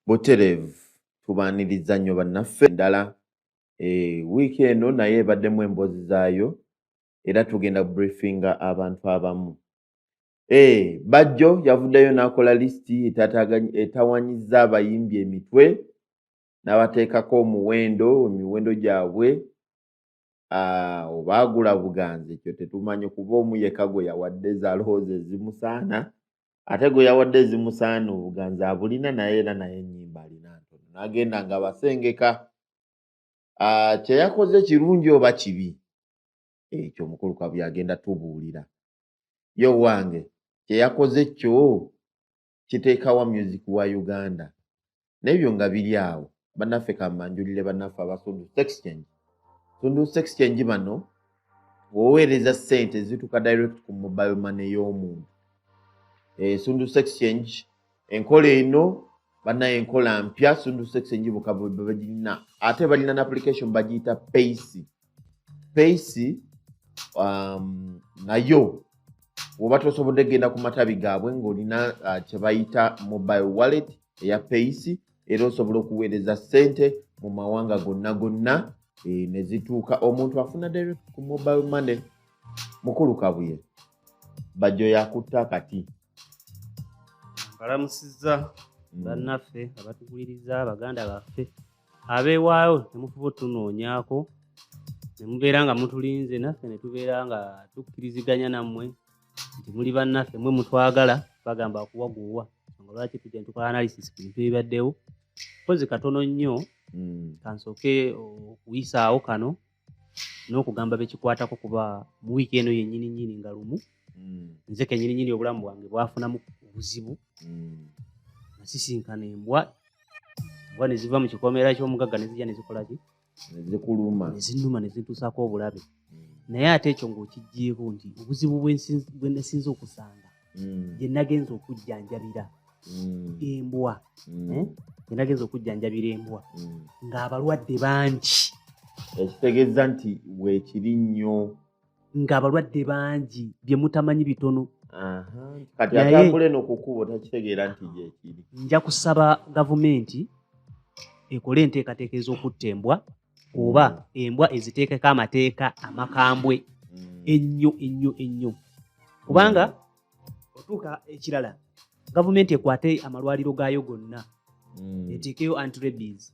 butereevu tubaaniriza nnyo bannaffe endala e, wiiki eno naye ebaddemu emboozi zaayo era tugenda briefinga abantu abamu e, bajjo yavuddeyo n'akola lisiti etawanyiza abayimbi emitwe n'abateekako omuwendo emiwendo gyabwe ah, oba agula buganzi ekyo tetumanyi kuba omuyeka gwe yawadde zalooza ezimusaana ate gwe yawadde ezimusaana obuganzi abulina naye era naye enyimba alina ntono nagenda nga basengeka ah, kyeyakoze kirungi oba kibi ekyo omukulu kabuye agenda tubuulira yo wange kyeyakoze kyo kiteekawa music wa uganda naebyo nga biri awo banaffe kambanjulire banaffe abasundusa exchange sundusa exchange bano woweereza sente zituka direct ku mobile money y'omuntu eh, sundusa exchange enkola eno banaye enkola mpya sundusa exchange bukababagirina ate balina n application bagiyita paysi peisi um, nayo woba tosobodde kugenda ku matabi gaabwe ng'olina uh, kyebayita mobile wallet eya peisi era osobola okuweereza ssente mu mawanga gonna gonna eh, ne zituuka omuntu afuna direct ku mobile money mukulu kabuye bajjo yakutta kati nkalamusizza mm. bannaffe abatukuliriza baganda baffe abeewaayo ne mufuba otunoonyaako ne mubeera nga mutulinze naffe ne tubeera nga tukkiriziganya nammwe nti muli bannaffe mwe mutwagala bagamba kuwaguuwa nga lwaki tujja ne tukola analysis ku bintu ebibaddewo mpozi katono nnyo hmm. kansooke okuyisaawo kano n'okugamba bekikwatako kuba mu wiiki eno yennyini nyini nga lumu mm. nze kenyini nyini obulamu bwange bwafunamu obuzibu mm. nasisinkana embwa embwa neziva mu kikomera ky'omugagga nezija nezikolaki zikuluma nezinuma nezintuusako obulabe mm. naye ate ekyo ngaokijjeeko nti obuzibu bwenasinza okusanga mm. gye nagenza okujjanjabira mm. embwa mm. eh? gye nagenza okujjanjabira embwa mm. ng'abalwadde bangi ekitegeeza nti weekiri nnyo ng'abalwadde bangi bye mutamanyi bitono kati atambule nokukuba otakitegeera nti gyekiri nja kusaba gavumenti ekole enteekateeka ez'okutta embwa oba mm. embwa eziteekeko amateeka amakambwe mm. ennyo ennyo ennyo kubanga mm. otuuka ekirala gavumenti ekwate amalwaliro gaayo gonna eteekeyo antrabis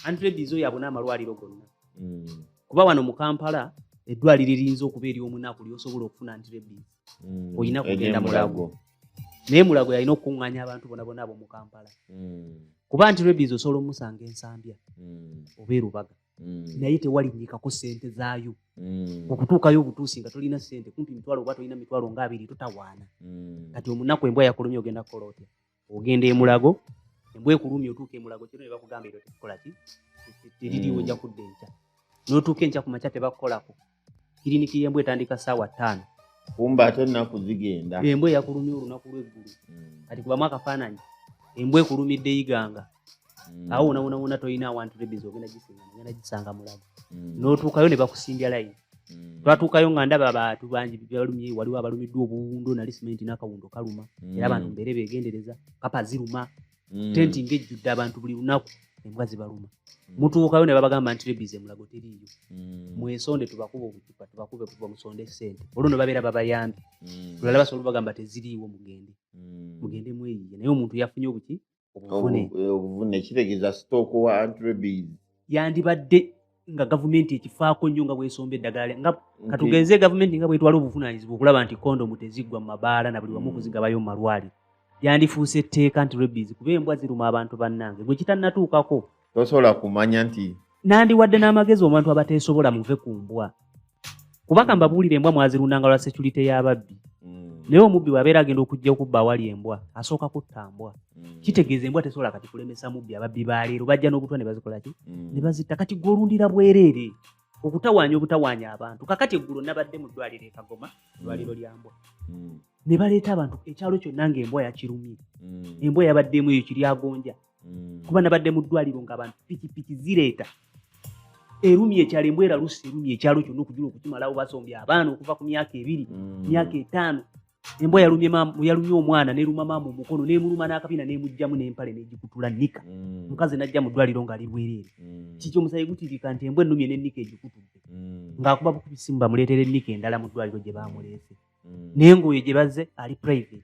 antrabis oyo abona amalwaliro gonna kuba wano mu kampala eddwaliro eriyinza okuba ery'omunaku lyosobola okufuna antrabis mm, olina kugenda mulago naye mulago yalina okukuŋŋanya abantu bona bona abo mu kampala mm. kuba nti rebizi osobola omusanga ensambya mm. oba erubaga naye tewalinnyikako sente zaayo okutuukayo obutuusi nga tolina sente kumpi mitwalo oba tolina mitwalo nga abiri totawaana kati omunaku embwa yakulumya ogenda kukola otya ogenda emulago embwa ekulumya otuuka emulago kino ne bakugamba ebyo tekikola ki teririwo ojja kudda enkya n'otuuka enkya ku makya tebakukolako kiriniki y'embwa etandika ssaawa ttaano kumba ate ennaku zigenda embwa eyakulumya olunaku lw'eggulu hmm. kati kubamu akafaananyi embwa ekulumidde iganga mm. awo wona wona wona tolina awantu rebiz ogenda gisinga ogenda gisanga mulago mm. notuukayo ne bakusimbya layini mm. twatuukayo nga ndaba abantu bangi balumye waliwo abalumiddwa obuwundo nali simenti n'akawundo kaluma era abantu mbeere begendereza kapa ziruma tenti ngejjudde abantu buli lunaku embwa zibaluma mutuukayo ne babagamba nti rebiz emulago teriiyo mwesonde tubakuba obucupa tubakube kuba musonde esente olwo ne babeera babayambye tulala basobola bagamba teziriiwo mugende mugende mweyiye naye omuntu yafunye obuki obuvune eh, kitegeeza stock wa antrebis yandibadde nga gavumenti ekifaako nnyo nga bwesomba eddagala nga katugenze gavumenti nga bwetwala obuvunanyizibwa okulaba nti kondomu teziggwa mu mabaala na buli wamu mm. kuzigabayo mu malwaliro yandifuuse etteeka nti rebis kuba embwa ziruma abantu bannange gwe kitannatuukako tosobola kumanya nti nandiwadde n'amagezi obantu abateesobola muve ku mbwa kubaka hmm. mbabuulire embwa mwazirundanga lwa securite y'ababbi hmm. naye omubbi bwabeera agenda okujja okubba awali embwa asooka kutta mbwa hmm. kitegeeza embwa tesobola kati kulemesa mubbi ababbi baleero bajja n'obutwa ne bazikolaki ne bazitta kati gwolundira bwereere okutawaanya obutawaanya abantu kakati eggulo nabadde mu ddwaliro ekagoma ddwaliro lya mbwa ne baleeta abantu ekyalo kyonna nga embwa yakirumye embwa yabaddeemu eyo kiryagonja mm. kuba nabadde mu ddwaliro nga abantu pikipiki zireeta erumi ekyalo embwera lusi erumi ekyalo kyonna okujula okukimalawo basombye abaana okuva ku myaka ebiri mm. myaka etaano embwa yalumye omwana neruma maama omukono nemuluma n'akabina nemugjamu nempale negikutula nika mm. mukazi najja mu ddwaliro ngaali bwereere mm. kiki omusayi gutirika nti embwa ennumye nenika egikutudde ng'akuba bukubisimu bamuleetera enika endala mu ddwaliro gye bamuleese nengoyo gye bazze ali private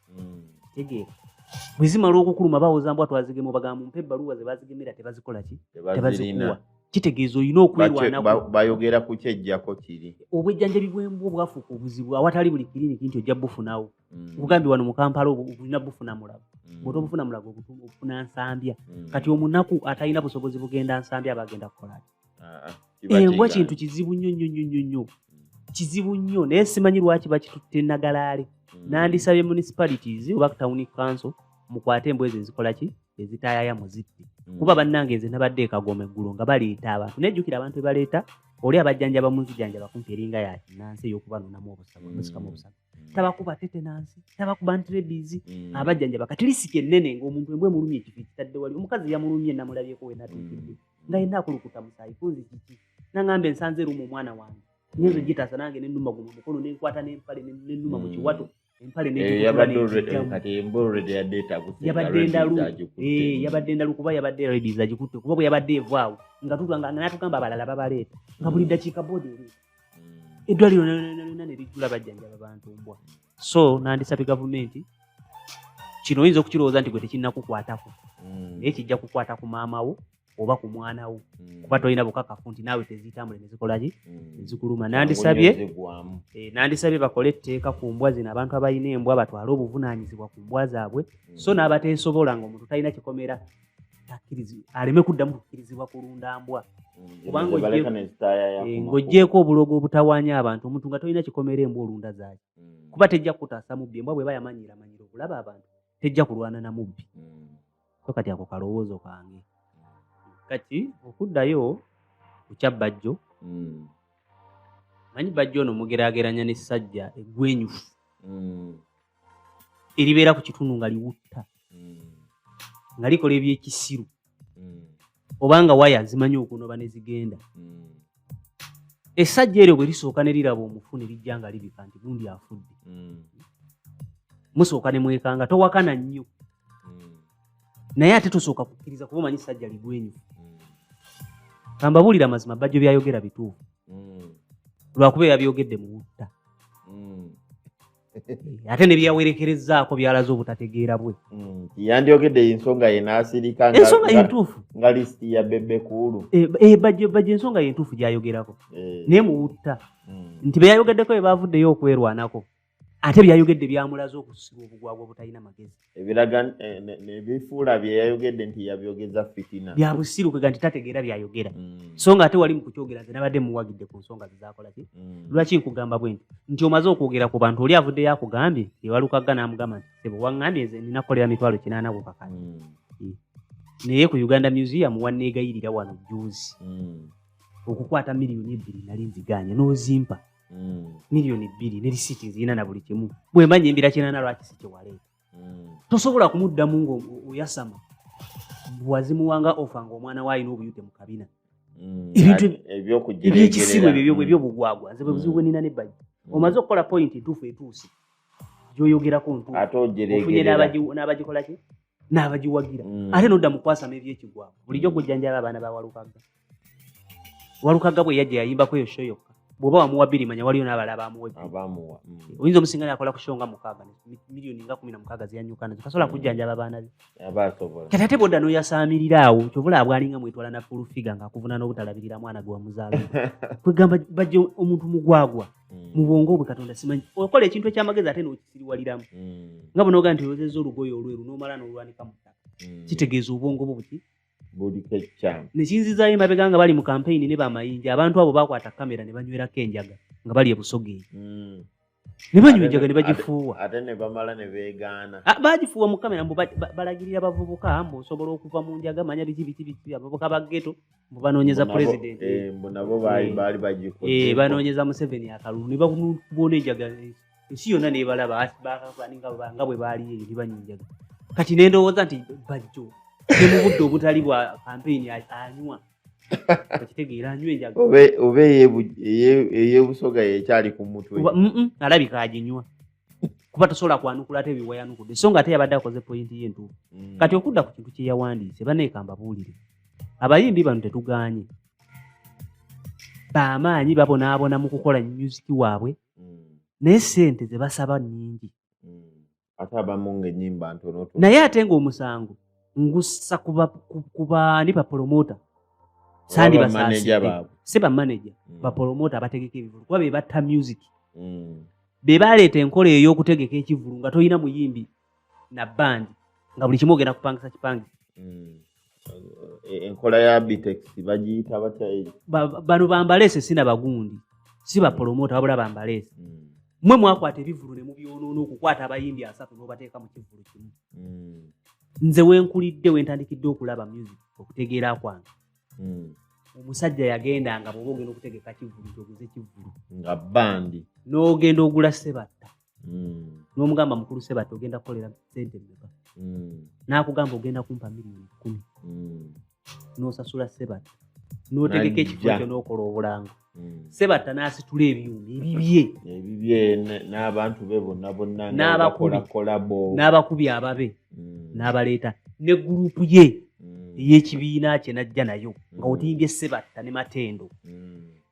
hmm. tegeera bwe zimala okukuluma bawoza mbwa twazigema obagamba mumpa ebbaluwa ze bazigemera tebazikola ki tebazikuwa kitegeeza olina okwerwanabayogera ku kyejjako kiri obwejjanjabi bwembwa obwafuuka obuzibu awatali buli kiriniki nti ojja bufunawo mm. ogambye wano mu kampala obulina bufuna mulago mm. bwota obufuna mulago obufuna nsambya mm. kati omunaku atalina busobozi bugenda nsambya aba agenda kukolaki ah, ah, embwa kintu kizibu nnyo nnyo nnyo nnyo nnyo mm. kizibu nnyo naye simanyi lwaki bakitutte nagalaale mm. nandisabye municipalities oba town council mukwate embwa ezo ezikola ki ezitayaya muzitti mm. kuba bannange nze nabadde ekagoma eggulu nga baleeta abantu nejjukira abantu bebaleeta oli abajjanjaba munzijanjaba kumpi eringa yakinansi eyokubanonamu obusabu musikamu obusabu tabakuba tetenansi tabakuba ntrebizi mm. abajjanjaba kati lisiki ennene ngaomuntu embwa emulumye ekifo ekitadde wali omukazi yamulumye namulabyeko wenatuukidde mm. nga yena akulukuta musayi kunzi kiki nangamba ensanze erumu omwana wange nyenzo gitasa nange nenuma guno mukono nenkwata nempale nenuma mu kiwato empale yabadde endalu kuba yabadde redi zagikutte kuba bwe yabadde evaawo nga tutwanga nga natugamba abalala babaleeta nga buli dakiika bodi ereeta eddwaliro lyona ne lijjula bajjanjaba bantu mbwa so nandisabye gavumenti kino oyinza okukirowooza nti gwe tekinnakukwatako mm. naye kijja kukwata ku maama wo oba ku mwana wo mm. kuba tolina bukakafu nti naawe teziyitambule nezikolaki mm. ezikuluma nandisabye eh, nandisabye bakole etteeka ku mbwa zino abantu abalina embwa batwale obuvunaanyizibwa ku mbwa zaabwe so n'abateesobola nga omuntu talina kikomera aleme kuddamu kukkirizibwa kulunda mbwa mm, kubanga eh, ng'oggyeeko obulogo obutawaanya abantu omuntu nga tolina kikomera embwa olunda zaaki mm. kuba tejja kukutaasa mubbi embwa bweba yamanyira manyira okulaba abantu tejja kulwana na mubbi mm. so kati ako kalowoozo kange kati okuddayo kukya bajjo manyi bajjo ono mugerageranya n'essajja egwenyufu eribeera ku kitundu nga liwutta nga likola ebyekisiru obanga waya zimanyi okunoba ne zigenda esajja eryo bwe lisooka ne liraba omufu ne lijja nga libika nti gundi afudde musooka ne mwekanga towakana nnyo naye ate tosooka kukkiriza kuba omanyi sajja ligwenyu kambabuulira amazima bajjo byayogera bituufu lwakuba eyabyogedde mu butta ate ne byeyawerekerezaako byalaze obutategeera bwe hmm, yandyogedde ensonga ye n'asirika ensonga yentuufu nga lisiti ya bebe kuulu eh, eh, baje ensonga yentuufu gyayogerako eh. naye muwutta hmm. nti beyayogeddeko bye bavuddeyo okwerwanako ate byayogedde byamulaze okusiba obugwagwa obutalina magezi ebiraga eh, nebifuula byeyayogedde nti yabyogeza fitina byabusiru kwega nti tategeera byayogera mm. so nga ate wali mukukyogera nze nabadde muwagidde ku nsonga zezakolaki mm. lwaki nkugamba bwe nti nti omaze okwogera ku bantu oli avuddeyo akugambye ewalukaga namugamba nti sebo wangambye nze nina kukolera mitwalo kinaana ku kakati mm. naye ku uganda museum wanneegayirira wano juzi okukwata miliyoni ebbiri nali nziganya nozimpa mm. miliyoni bbiri ne lisiiti nzirina na buli kimu bwe mba nyembera kinana lwaki si kyewaleeta mm. tosobola kumuddamu ngaoyasama wazimuwanga ofa ngaomwana we alina obuyute mu kabina mm. ebintu ebyekisimu ebyo ebyobugwagwa nze bwe buzibu bwe nina ne bagi omaze okukola pointi ntuufu etuusi gyoyogerako ntuufu ofunye n'abagikola ki n'abagiwagira mm. ate nodda mu kwasama ebyekigwamu bulijjo gujjanjaba abaana ba walukagga walukagga bwe yajja yayimbako eyo sho yokka bwoba wamuwa biri manya waliyo n'abala abamuwa mm. oyinza omusinga nakola ku sho nga mukaaga miliyoni nga kumi na mukaaga zeyanyuka nazo tasobola mm. kujjanjaba abaana be kati ate bwodda n'oyasaamirira awo kyovula abwalinga mwetwala na fulufiga ng'akuvuna n'obutalabirira mwana gwe wamuzaala kwegamba bajja omuntu mugwagwa mm. mu bwongo bwe katonda simanyi okola ekintu ekyamagezi ate nokisiriwaliramu mm. nga bunoga nti oyozeza olugoye olweru nomala nolwanika mu ttaka mm. kitegeeza obwongo bwo buki nekinzizayo emabega nga bali mu kampeyini ne bamayinja abantu abo bakwata kamera ne banywerako enjaga nga bali ebusogeeri ne banywa enjaga ne bagifuuwa ate ne bamala ne beegaana ah, bagifuuwa mu kamera mbu balagirira bavubuka mbu osobola okuva mu njaga manya biki biki biki abavubuka ba geto banoonyeza pulezidenti eh, mbu nabo baali eh. bagikoze banoonyeza museveni akalulu ne bakubuona enjagala ensi yonna nebalaba nga bwe baali eyo ne banyinjaga kati ne ndowooza nti bajjo ne mu budde obutali bwa kampeyini anywa oba eyebusoga yekyali ku mutwe alabika aginywa kuba tosobola kwanukula ate byewayanukudde so nga ate yabadde akoze poyinti ye entuufu mm. kati okudda ku kintu kyeyawandiise baneekamba buulire abayimbi bano tetuganye bamaanyi babonaabona mu kukola music waabwe mm. naye sente zebasaba nyingi mm. naye ate nga omusango ngussa kubani bapolomota sandi basaasi si bamaneja bapolomota abategeka ebivulu kuba bebatta music be baaleeta enkola eyo y'okutegeka ekivulu nga tolina muyimbi na bandi nga buli kimu ogenda kupangisa kipangisa hmm. e, enkola ya bitex bagiyita batya bano bambaleese si na bagundi si bapolomota wabula bambaleese hmm. mwe mwakwata ebivulu ne mubyonoona okukwata abayimbi asatu n'obateeka mu kivulu kimu hmm. nze wenkulidde wentandikidde okulaba music okutegeera kwange hmm. omusajja yagenda nga bwoba ogenda okutegeka kivulu toguze kivulu nga bandi n'ogenda ogula sebatta hmm. n'omugamba mukulu sebatta ogenda kukolera sente meka hmm. n'akugamba ogenda kumpa miliyoni kumi n'osasula sebatta n'otegeka ekifo ekyo n'okola obulanga hmm. sebatta n'asitula ebyuma ebibye ebibye n'abantu be bonna bonna n'abakolakolabo n'abakubi ababe hmm. n'abaleeta ne gurupu ye hmm. ey'ekibiina kye n'ajja nayo nga otimbye sebatta ne matendo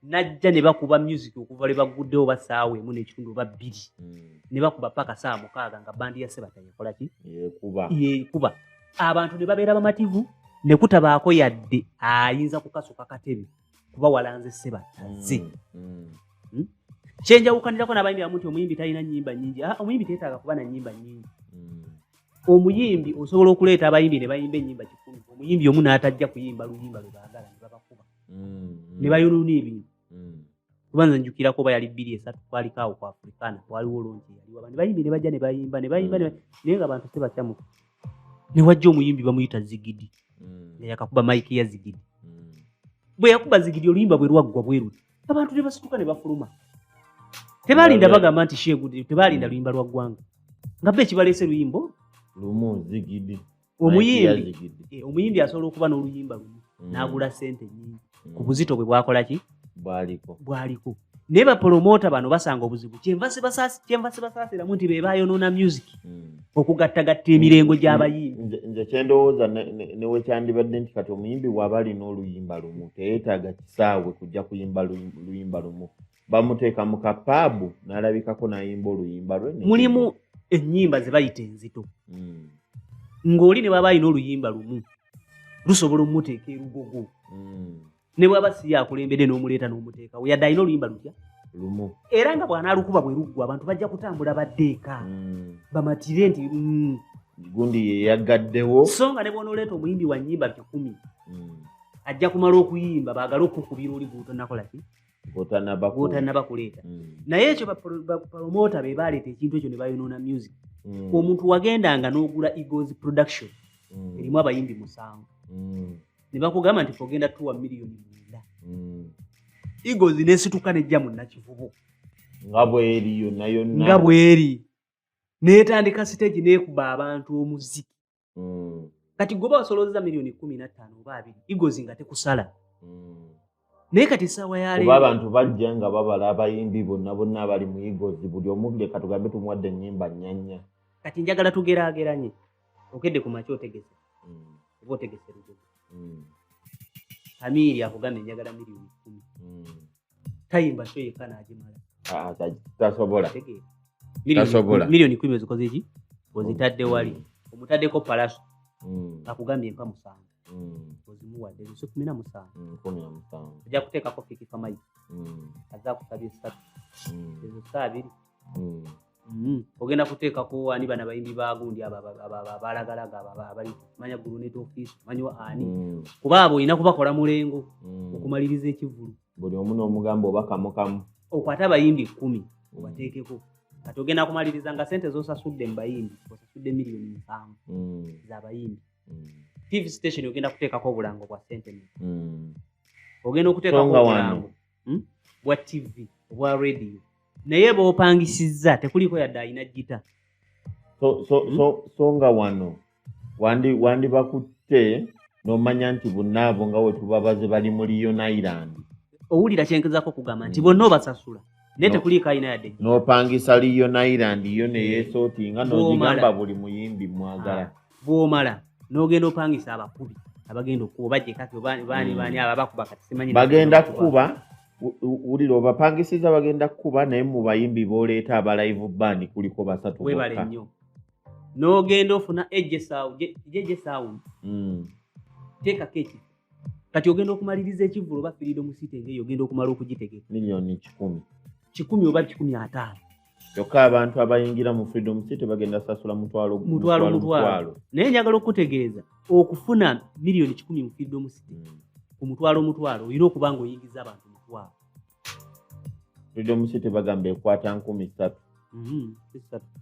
najja ne bakuba music okuva lwe bagguddewo basaawa emu n'ekitundu oba bbiri hmm. ne bakuba paka saa mukaaga nga bandi ya sebata yekola ki yekuba abantu ne babeera bamativu ne kutabaako yadde ayinza kukasuka katebe kuba walanze sebattaze mm, mm. hmm? kyenjawukanirako nabayimbi amu nti omuyimbi talina nyimba nyingi ah, omuyimbi tetaaga kuba na nyimba nyingi mm. omuyimbi osobola okuleeta abayimbi ne bayimba enyimba kikumi omuyimbi omu n'atajja kuyimba luyimba lwe baagala ne babakuba ne bayonoona ebintu kubanza njukirako oba yali bbiri esatu kwaliko awo ku afrikana waliwo lonki yaliwa ne bayimbi ne bajja ne bayimba ne bayimba naye nga bantu sebatyamu ne wajja omuyimbi bamuyita zigidi mm. nga yakakuba mike ya zigidi mm. bwe yakuba zigidi oluyimba bwe lwaggwa bweruti abantu ne basituka ne bafuluma tebalinda bagamba nti sheegudi tebalinda mm. luyimba lwa ggwanga nga be ekibaleese luyimbo lumu zigidi omuyimbi eh, omuyimbi asobola okuba n'oluyimba lumu n'agula sente nyingi ku mm. buzito bwe bwakola ki bwaliko bwaliko naye bapolomota bano basanga obuzibu kyenva sibasaasiramu nti bebayonoona music mm. okugattagatta emirengo mm. gy'abayimbi nze kyendowooza newekyandibadde nti kati omuyimbi waba alina oluyimba lumu teyetaaga kisaawe kujja kuyimba luyimba lumu bamuteeka mu kapaabu n'alabikako n'ayimba oluyimba lwe mulimu ennyimba ze bayita enzito hmm. ng'oli ne baba alina oluyimba lumu lusobola omuteeka erugogo hmm. ne bwaba si yakulembedde n'omuleeta n'omuteekawo yadde alina oluyimba lutya lumu era nga bw'anaalukuba bwe luggwa abantu bajja kutambula baddeeka hmm. bamatire nti gundi yeyagaddewo so nga ne bw'onooleeta omuyimbi wa nnyimba kikumi ajja kumala okuyimba baagale okukubira oli guuto nakolaki otanaba kuleeta mm. naye ekyo bapalomota be baleeta ekintu ekyo ne bayonoona music mm. omuntu wagendanga n'ogula egos production mm. erimu abayimbi musanvu ne bakugamba nti ogenda tuwa miliyoni mwenda egos nesituka nejja mu nakivubu nga bweri yonna yonna nga bweri netandika siteegi nekuba abantu omuziki mm. kati goba wasolooza miliyoni kumi nattaano oba abiri igozi nga tekusala mm. naye kati esaawa yaleero abantu bajja nga babala abayimbi bonna bonna abali mu igozi buli omubire katugambe tumuwadde ennyimba nyanya kati njagala tugeraageranye okedde ku maki otegese mm. oba otegese lugozi kamiiri akugambye njagala miliyoni kumi tayimba sho yekka n'agimala ah, tasobola miliyoni kumi ozikoze ki ozitadde wali mm. omutaddeko palaso mm. akugambye empa musanvu mm. ozimuwadde lusi kumi na musanvu ojja kuteekako fikifamayi aza kusabye esatu ezo saa abiri Mm-hmm. ogenda kuteekako ani bana bayimbi bagundi abalagalaga abali manya gulunet office manyiwa ani mm. kuba abo olina kubakola mulengo mm. okumaliriza ekivulu buli omu nomugamba obakamukamu okwate abayimbi kumi mm. obateekeko kati ogenda kumaliriza nga sente zosasudde mubayimbi osasudde miliyoni musanvu zabayimbi tv station ogenda kuteekako obulango bwa sente ogenda okuteekako obulango hmm? bwa tv obwa radio naye bopangisizza tekuliiko yadde alina gita so, so, hmm? so, so nga wano wandibakutte wandi nomanya nti bunaabo nga wetubabaze bali mu lion island owulira kyenkizako okugamba nti hmm. bonna obasasula naye tekuliiko alina yadde nopangisa lion island yo neyesootinga nogigamba buli muyimbi mwagala ah. bwomala nogenda opangisa abakubi abagenda okuba jekati obani bani bani hmm. ababakuba kati simanyi bagenda kukuba wulira obapangisiza bagenda kukuba naye mu bayimbi boleeta aba live band kuliko basatu webale nnyo nogenda ofuna ejesawo jejesawo hmm. teekako ekifo kati ogenda okumaliriza ekivulu oba firido musite ngeyo ogenda okumala okugitegeka milioni kikumi kikumi oba kikumi ataano kyokka abantu abayingira mu freedom city bagenda sasula mutwalo mutwalo mutwalo naye njagala okukutegeeza okufuna miliyoni kikumi mu freedom city hmm. ku mutwalo mutwalo olina okuba nga oyingiza abantu mutwalo freedom city bagamba ekwata nkumi ssatu hmm,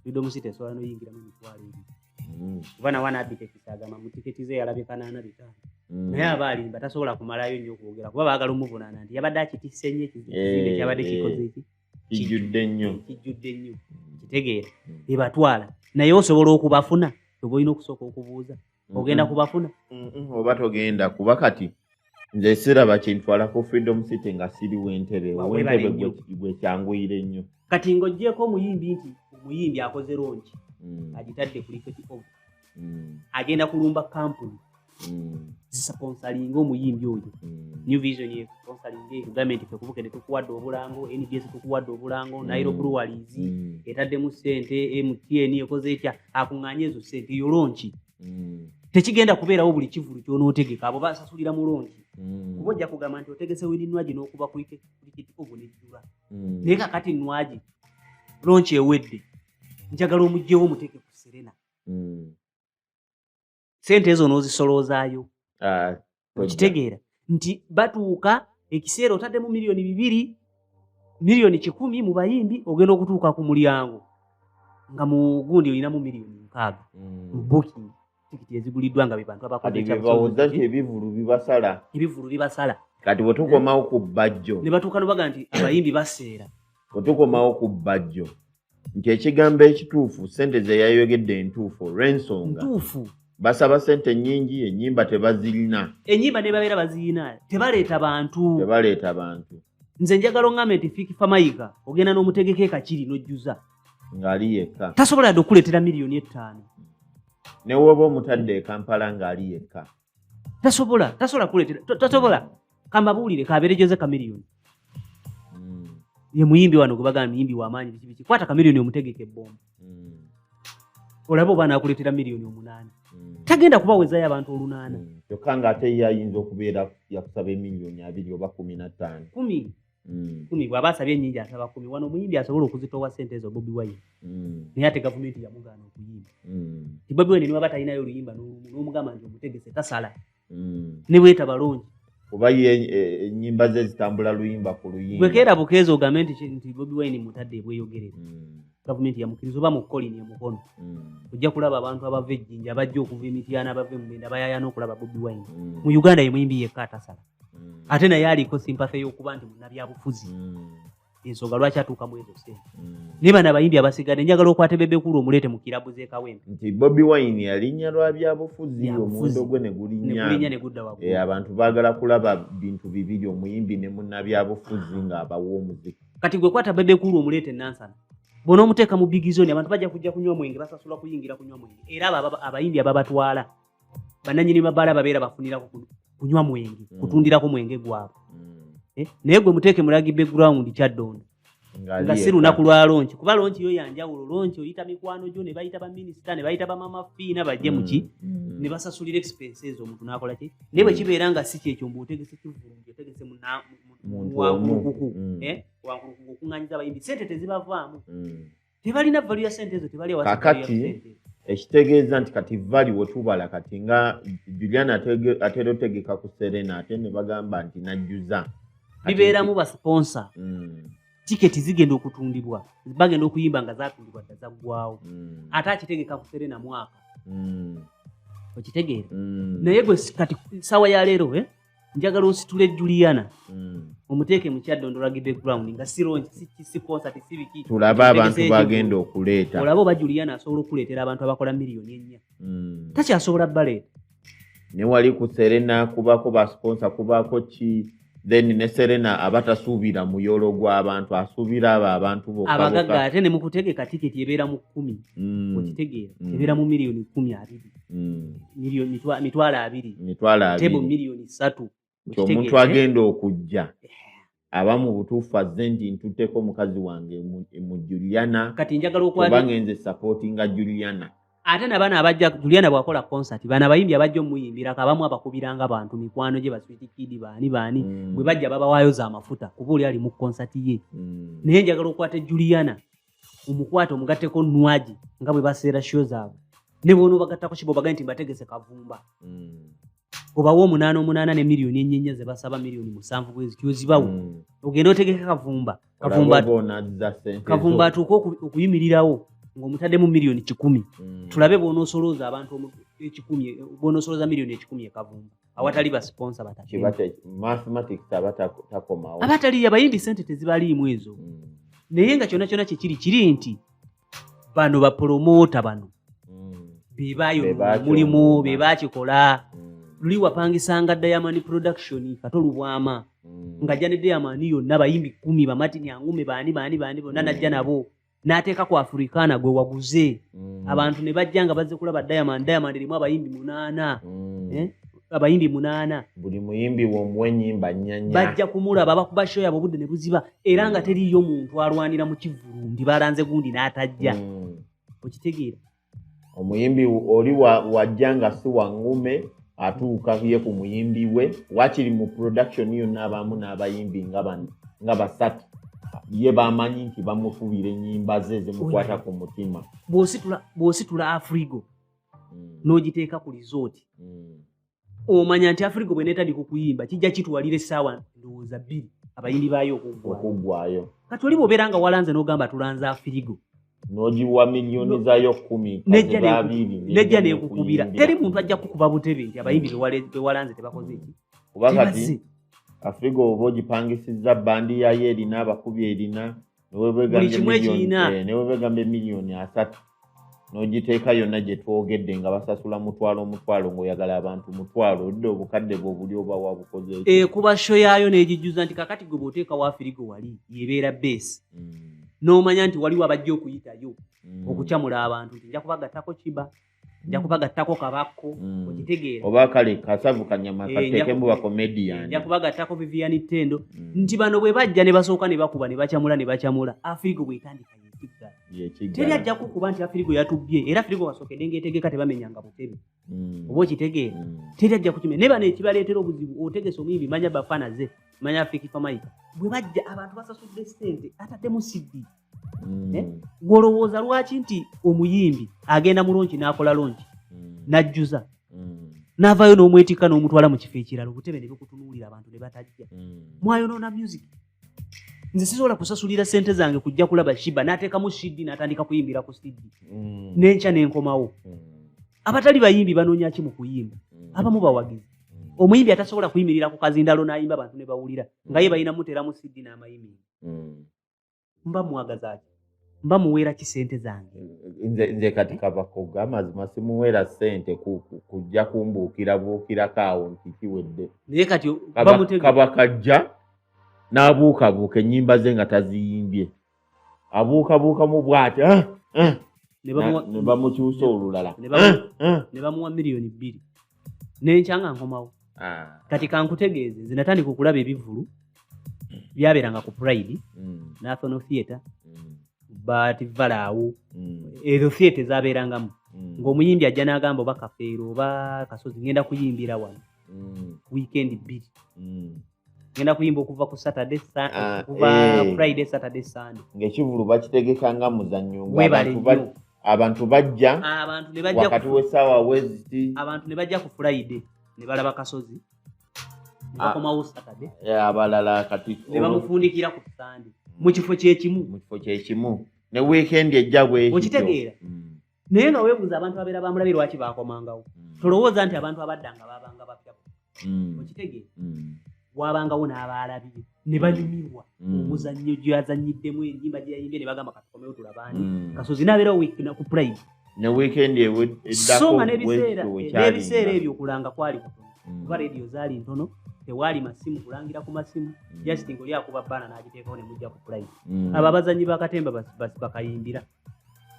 freedom city esobola noyingiramu emitwalo ebiri mm. kuba nawe anabiteekisa agamba mu tiketi ze yalabye kanaana bitaano mm. naye aba alimba tasobola kumalayo nnyo okwogera kuba baagala omuvunaana nti yabadde akitisse nnyo ekizimbe eh, kyabadde eh. kikoze eki kijjudde nnyo kijjudde nnyo kitegeera ebatwala naye osobola okubafuna oba olina okusooka okubuuza ogenda kubafuna oba togenda kuba kati nze siraba kintwala ku freedom city nga siri wentebe wentebe gwekyanguyire nnyo kati ngaogyeko omuyimbi nti omuyimbi akoze longi mm. agitadde kuliketi o mm. agenda kulumba kampuni mm. zisponsalinga omuyimbi oyo new vision esponsalinga government fe kubukede tukuwadde obulango nbs tukuwadde obulango nairo breweries etaddemu sente mtn ekoze etya akunganye ezo sente yolonki mm. tekigenda kubeerawo buli kivulu kyonootegeka abo basasulira mulongi mm. kuba ojja kugamba nti otegese wini nwagi n'okuba kulikitiko gwe nejjula mm. naye kakati nwagi lonki ewedde njagala omugyewo omuteeke ku serena sente ezo n'ozisoloozaayo ah, okitegeera nti batuuka ekiseera otaddemu miliyoni bibiri miliyoni kikumi mu bayimbi ogenda okutuuka ku mulyango nga mu gundi olinamu miliyoni mukaaga mm. mu booking tikiti eziguliddwa nga bebantu abakoebivulu bibasala ebivulu bibasala kati bwetukomawo ku bajjo ne batuuka nobaga nti abayimbi baseera bwetukomawo ku bajjo nti ekigambo ekituufu sente zeyayogedde entuufu olwensonga basaba sente nyingi enyimba tebazirina enyimba nebabeera bazirina tebaleeta bantu tebaleeta bantu nze njagala oŋame nti fikifa mayiga ogenda n'omutegeka ekakiri nojjuza ngaali yekka tasobola yadde okukuleetera miliyoni ettaano newoba omutadde ekampala ngaali yekka tasobola tasobola kuletera tasobola kamabuulire kaberejoze kamiliyoni hmm. ye muyimbi wano gwebagamba muyimbi wamaanyi biki biki kwata kamiliyoni omutegeka ebbomba hmm. olaba oba nakuletera miliyoni omunaana hmm. tagenda kubawezayo abantu olunaana kyokka nga ate ye ayinza okubeera yakusaba emiliyoni abiri oba kumi na ttaano kumi Mm. kumi bwaba asabye enyingi asaba kumi wano omuyimbi asobola okuzitowa sente ezo bobi wine mm. naye ate gavumenti yamugaana okuyimba mm. ti bobi wine niwaba talinayo oluyimba nomugamba nti omutegese tasala nebweta balungi oba ye e, enyimba ze zitambula luyimba ku luyimba bwekeera bukeeza ogambe nti bobi wine mutadde ebweyogerera gavumenti yamukiriza oba mukolini emukono ojja kulaba abantu abava ejjinja bajja okuva emityana bava emugenda bayayana okulaba bobi wine mu uganda yemuyimbi yekka atasala mm. ate naye aliko simpathy y'okuba nti munabyabufuzi mm. ensonga lwaki atuuka mu ezo sente mm. naye bana abayimbi abasigadde njagala okwate bebekulu omuleete mu kirabu z'ekawempe nti bobi wine yalinya lwa byabufuzi omuwendo gwe ne gulinya ne gudda waggulu eh, abantu baagala kulaba bintu bibiri omuyimbi ne munnabyabufuzi ng'abawa omuziki kati gwe kwata bebekulu omuleete nansana bona omuteeka mu bigizoni abantu bajja kujja kunywa mwenge basasula kuyingira kunywa mwenge era abo abayimbi ababatwala bananyini mabaala babeera bafunirako kunywa mwenge mm. kutundirako mwenge gwabwe mm. eh, naye gwe muteeke mulagi background kyaddondo nga si lunaku lwa lonki kuba lonki yo yanjawulo lonki oyita mikwano gyo ne bayita baminisita ne bayita bamama fiina bajje mm. muki ne basasulira expenses omuntu nakola ki naye bwe kibeera nga si kyekyo mbu otegese kivungi otegese muwankukuku eh, wankukuku okuŋanyiza abayimbi sente tezibavaamu tebalina valu ya sente ezo tebali kakati ekitegeeza nti kati vali wetubala kati nga julian atera otegeka ku serena ate ne bagamba nti najjuza bibeeramu basponsa mm. tiketi zigenda okutundibwa bagenda okuyimba nga zatundibwa dda zaggwawo mm. ate akitegeka ku serena mwaka mm. okitegeera naye gwe kati sawa ya leero eh? njagala onsitule juliana mm. omuteeke mukyadondolagide ground nga sirongi sikonsati sibiki tulabe abantu bagenda okuleeta olaba oba juliana asobola okuleetera abantu abakola miliyoni ennya mm. takyasobola baleeta newali ku serena kubako basponsa kubako ki then ne serena aba tasuubira muyolo gw'abantu asuubira abo abantu boabagaga ate ne mukutegeka tiketi ebeera mu kkumi mm. okitegeera ebeera mu miliyoni kkumi abiri mm. mitwalo abiri tebo miliyoni satu omuntu agenda okujja aba mu butuufu azze nti ntutteko mukazi wange mu juliana kati njagala okubanga enze supportinga juliana ate nabaana abajja juliana bwakola concert baana abayimbi abajja omuyimbirako abamu abakubiranga bantu mikwano gye baswitikidi baani baani mm. bwe bajja babawaayo za mafuta kuba oli ali mu concert ye mm. naye njagala okukwata juliana omukwate omugatteko nwagi nga bwe baseera sho zaabwe ne bona obagattako kiba obagae nti mbategese kavumba mm. obawa omunaana omunaana ne miliyoni enyenya ze basaba miliyoni musanvu bwezi kyozibawo mm. ogenda otegeke kavumba kavumba atuuke okuyimirirawo ng'omutaddemu miliyoni kikumi mm. tulabe bwonosolooza abantu ekikumi bwonosolooza miliyoni ekikumi ekavumba awatali ba sponsor batamathematics aba takomawo abatali abayimbi sente tezibaliimu ezo mm. naye nga kyona kyona kyekiri kiri nti bano bapolomota bano mm. bebayo mulimu bebakikola mm. luli wapangisanga diamond production kato lubwama mm. ngajja ne diamond yonna bayimbi kumi bamatini angume baani baani baani bonna najja nabo n'ateeka ku afurikaana gwe waguze mm. abantu ne bajja nga bazze kulaba diamond diamond erimu abayimbi munaana mm. eh? abayimbi munaana buli muyimbi womuwa enyimba nyanya bajja kumulaba bakuba sho yabo obudde ne buziba era nga mm. teriiyo muntu alwanira mu kivulu ndi balanze gundi n'atajja okitegeera omuyimbi oli wajja nga si wangume atuuka ye ku muyimbi we wakiri mu production yonna abamu n'abayimbi nga bano nga basatu ye bamanyi nti bamufubira enyimba ze zimukwata ku mutima bwositula afrigo hmm. n'ogiteeka ku lizooti hmm. omanya nti afirika bwenetadi kukuyimba kijja kitwalira essaawa ndowooza bbiri abayimbi baayo okuggwayo kati oli bwobeera nga walanze n'ogamba tulanze afirigo nogiwa miliyoni zayo kumi nejja nekukubira teri muntu ajja kukuba butebe nti abayimbi bewalanze tebakoze eki kuba kati afirigo oba ogipangisiza bandi yayo erina abakubi erina buli kimu ekirina eh, newebegamba emiliyoni asatu nogiteeka yonna gye twogedde nga basasula mutwalo omutwalo ngaoyagala abantu mutwalo odde obukadde bwe obuli oba wabukoze ekuba eh, sho yaayo negijjuza nti kakati gwe bwoteeka wafirigo wali yebeera beesi mm. n'omanya nti waliwo abajja okuyitayo mm. okucamula abantu nti nja kubagattako kiba nja kubagattako kabakko mm. okitegeera oba kale kasavu kanyama eh, katekemu bakomedian nja kubagattako vivian tendo mm. nti bano bwe bajja ne basooka ne bakuba ne bacamula ne bacamula afirigo bwetandika yekiggala teri ajja kukuba nti afirigo yatubbye era afirigo wasookedde ngaetegeka tebamenyanga butebe mm. oba okitegeera mm. teri ajja kukimenya naye bano ekibaleetera obuzibu otegesa omuyimbi manya bafana ze manya afirikifamayika bwe bajja abantu basasudde sente ataddemu siddiiki mm. eh? gwolowooza lwaki nti omuyimbi agenda mu lonki n'akola lonki mm. n'ajjuza n'avaayo n'omwetikka n'omutwala mu kifo ekirala obutebe ne bikutunuulira abantu ne batajja mwayonoona music nze sisobola kusasulira sente zange kujja kulaba shiba natekamu shidi natandika kuyimbira ku stidi mm. nenkya nenkomawo mm. abatali bayimbi banonya ki mukuyimba mm. abamu bawagizi mm. omuyimbi atasobola kuyimirira ku kazindalo nayimba abantu nebawulira mm. nga ye balina muteramu sidi namayimbi mm. mba mwagazaki mba muweera ki sente zange nze kati kavakoga amazima simuweera sente kujja kumbuukira buukirako awo nti kiwedde naye kati kaba kajja n'abuukabuuka ennyimba ze nga taziyimbye abuukabuukamu bwati ah, ah. ne bamukyusa olulala ne bamuwa ah, miliyoni bbiri nenkya nga nkomawo ah. kati kankutegeeze nze natandika okulaba ebivulu byabeeranga ku pride mm. national theatre mm. but valaawo mm. ezo theatre ezabeerangamu mm. ngaomuyimbi ajja n'agamba oba kafeero oba kasozi ngenda kuyimbira wano mm. weekend bbiri mm. ngenda kuyimba okuva ku saturday ah, okuva eh. friday saturday sunday ngekivulu bakitegeka nga muzannyo abantu bajja ah, wakati wesaawa weziti abantu ne bajja ku friday ne balaba kasozi nebakomawo ah. saturday eh, abalala kati ne bamufundikira ku sunday mu kifo kyekimu mu kifo kyekimu ne wiikendi ejja bwekitegeera mm. naye nga webuuza abantu abeera bamulabe lwaki bakomangawo mm. tolowooza nti abantu abadda nga babanga bapya mm. okitegeera mm. wabangawo n'abaalabire ne banyumirwa omuzannyo gyazannyiddemu enyimba gyeyayimbye ne bagamba katukomewo tulabani kasozi nabeera ku prime ne weekend eddako nga n'ebiseera ebyo okulanga kwali kutono Mm. kuba radio zaali ntono tewaali masimu kulangira ku masimu mm. just ngaoli akuba baana n'agiteekawo ne mujja ku pulayi mm. abo abazanyi bakatemba bakayimbira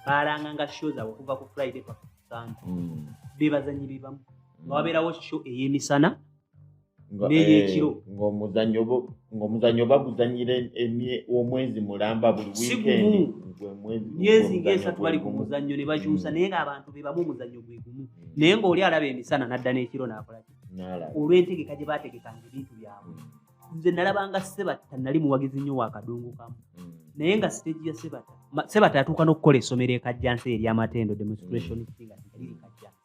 baalanga nga show zaabwe okuva ku friday paka kusande mm. bebazanyi bebamu mm. nga wabeerawo show ey'emisana neyekiro eh, ng'omuzanyo baguzanyira omwezi mulamba buli wikendi myezi ngaesatu bali ku muzannyo ne bakyusa mm. naye ng'abantu be bamu omuzannyo gwe gumu mm. naye ng'oli alaba emisana n'adda n'ekiro n'akolaki olw'entegeka gye baategekanga ebintu byabwe mm. nze nalabanga sebatta nali muwagizi nnyo wa kadungu kamu mm. naye nga siteegi ya sebatta sebatta yatuuka n'okukola essomero ekajjansi eryamatendo demonstration mm. singa liri kajjansi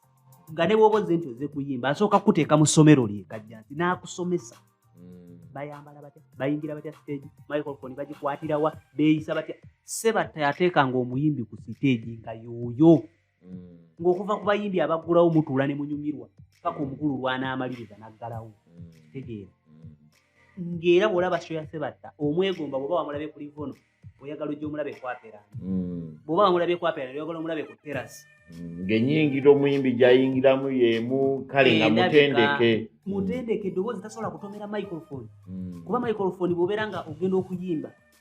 nga ne bwoba ozze nti oze kuyimba asooka kukuteeka mu ssomero lye kajjansi n'akusomesa mm. bayambala batya bayingira batya siteegi microfoni bagikwatirawa beeyisa batya sebatta yateekanga omuyimbi ku siteegi nga yooyo mm. ng'okuva ku bayimbi abaggulawo mutuula ne munyumirwa paka omukulu lwanaamaliriza naggalawo mm. kitegeera ng'era bw'olaba shoya sebatta omwegomba bw'oba wamulabye ku livono oyagala ojja omulabe kwapera bw'oba wamulabye kwapera oyagala omulabe ku terasi ng'enyingira omuyimbi gyayingiramu y'emu kale nga mutendeke mutendeke eddoboozi tasobola kutomera microphone kuba microphone bw'obeera nga ogenda okuyimba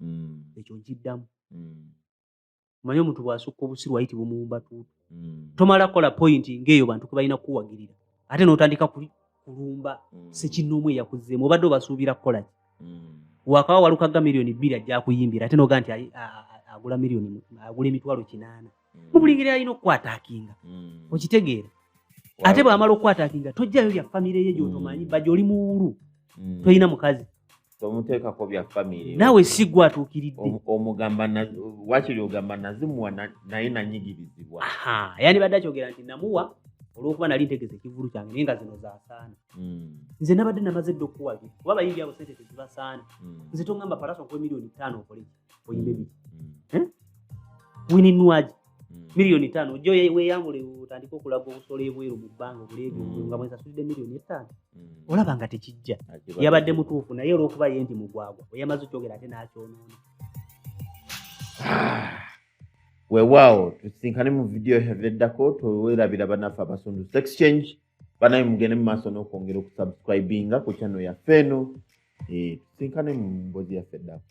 mm. ekyo nkiddamu mm. manya omuntu bwasukka obusiru ayiti bumuwumba tuutu mm. tomala kola pointi ngaeyo bantu kebalina kukuwagirira ate notandika kulumba mm. sekinoomu eyakuzeemu obadde obasuubira kukolaki mm. wakawa walukaga miliyoni bbiri ajja kuyimbira ate noga nti agula miliyoni agula emitwalo kinaana mu buli ngeri alina okukwatakinga mm. okitegeera ate bwamala okukwatakinga tojjayo bya famire ye gyotomanyi mm. baja oli muwulu mm. tolina mukazi tomuteekako bya famire naawe sigwa atuukiridde omugamba wakiri ogamba nazimuwa naye nanyigirizibwa yani badde akyogera nti namuwa olwokuba nali ntegeza ekivulu kyange naye nga zino zasaana hmm. nze nabadde namaze dde okukuwagira kuba bayimbi abo sente tezibasaana hmm. nze tongamba palaso nkuwa emiliyoni ttaano okoleki oyimbe biki hmm. wininwaji hmm. miliyoni tano jo weyambule otandika okulaga obusolo ebweru mu bbanga obuleebi hmm. nga mwesasulidde miliyoni etaano olaba nga tekijja yabadde mutuufu naye olwokuba ye nti mugwagwa oyamaze okyogera ate nakyonoona ah. wewaawo tusinkane mu vidiyo eddako twewerabira banaffe abasunduse exchange banaye mugende mu maaso n'okwongera okusubscribinga ku channel yaffe eno eh, tusinkane mu mbozi yaffe ddako